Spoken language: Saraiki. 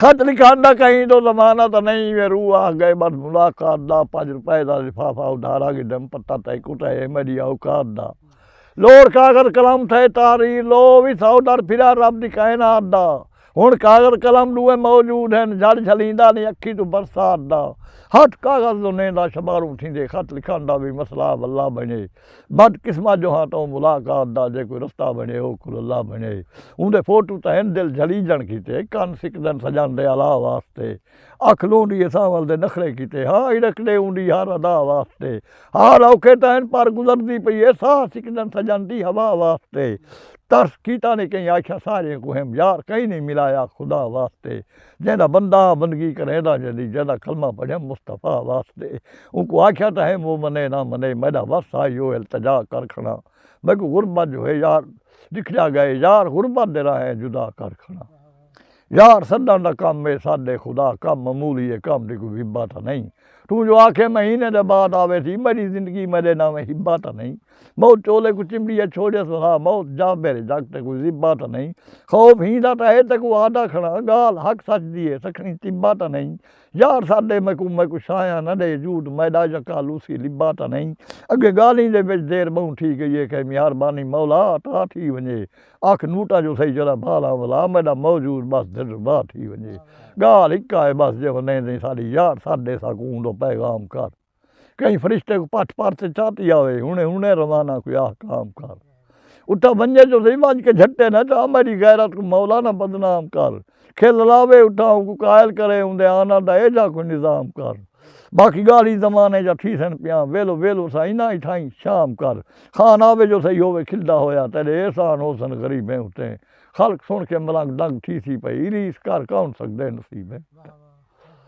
خط لکھݨ دا کہیں توں زمانہ تاں نئیں ایویں روح آہ گئے بس ملاقات دا پنج روپے دا لفافہ ادھارا گھدم پتہ تئیں کتھے ہے میݙی اوقات دا لوڑ کاغذ قلم تھئے تحریر لو او وی سو در پھرا رب دی کائنات دا ہݨ کاغذ قلم ݙوہیں موجود ہن جھڑ جھلیندا نئیں اکھیں توں برسات دا ہتھ کاغذ زنیں دا شماروں تھیندے خط لکھݨ دا وی مسئلہ واللہ بݨے بد قسمت جو ہاں تاں ملاقات دا جے کوئی رستہ بنڑے او کھل اللہ بنڑے اوندے فوٹو تاں ہن دل جھلیجنڑ کیتے کن سکدن سجن دے الا واسطے اکھ لونڑی ہے سانول دے نخرے کیتے ہا ہڑکڑے اوندی ہر ادا واسطے حال اوکھے تاں ہن پر گزردی پئی ہے ساہ سکدن سجن دی ہوا واسطے ترس کیتا نی کہیں آکھیا ساریں کوں ہم یار کہیں نی ملایا خدا واسطے۔ جیندا بندہ بندگی کریندا جدی جیندا کلمہ پڑھیم مصطفی واسطے اونکوں آکھیا تاں ہے مو منے نہ منے میڈا وس آ ایہو التجا کر کھڑا میکوں غربت جو ہے یار ڈکھڑیا گئے یار غربت دے راہیں جدا کر کھڑا یار سڈن دا کم ہے سڈ اے خدا کم معمولی اے کم دی کوئی وبا تاں نہیں توں جو آکھیں مہینے دے بعد آویسی میڈی زندگی میڈے ناویں ہبا تاں نہیں بہت چولے کوں چمبیئے چھوڑیس وہا بہت جاں میرے جگ تے کوئی زبا تاں نئیں خوف ہی دا تاں ہے تے کوں آدھا کھڑا گال حق سچ دی ہے سکھنی تبا تاں نئیں یار سا دے میں کوں میں کوں شایاں نہ ڈے جوٹ میڈا یکا لوسی لبا تاں نئیں اگے گالیں دے وچ دیر بہوں تھی گئی ہے کہیں میہار بانی مولا عطا تھی ونجے آکھ نوٹا جو سہی جرا بھالا ولا میڈا موجود بس دل ربا تھی ونجے گال ہکا ہے بس جے ہو نیں دیں ساڈی یار سا دے سا کوں دو پیغام کر۔ کہیں فرشتے کوں پٹھ پار تے چا پیا ہوئے ہنے ہنے روانہ کوئی احکام کر اتا ونجے جو صحیح ونج کے جھٹے نہ چاہ میری غیرت کو مولا نہ بدنام کر کھل لاوے اتا ان کو قائل کرے ان دے آنا دا اے جا کوئی نظام کر باقی گالی زمانے جا تھی سن پیاں ویلو ویلو سا انہاں ہی تھائیں شام کر خان آوے جو صحیح ہووے کھلدا ہویا تیرے احسان ہو سن غریبیں اتے خلق سن کے ملنگ دنگ تھی سی پئی ریس کر کون سکدے نصیبیں۔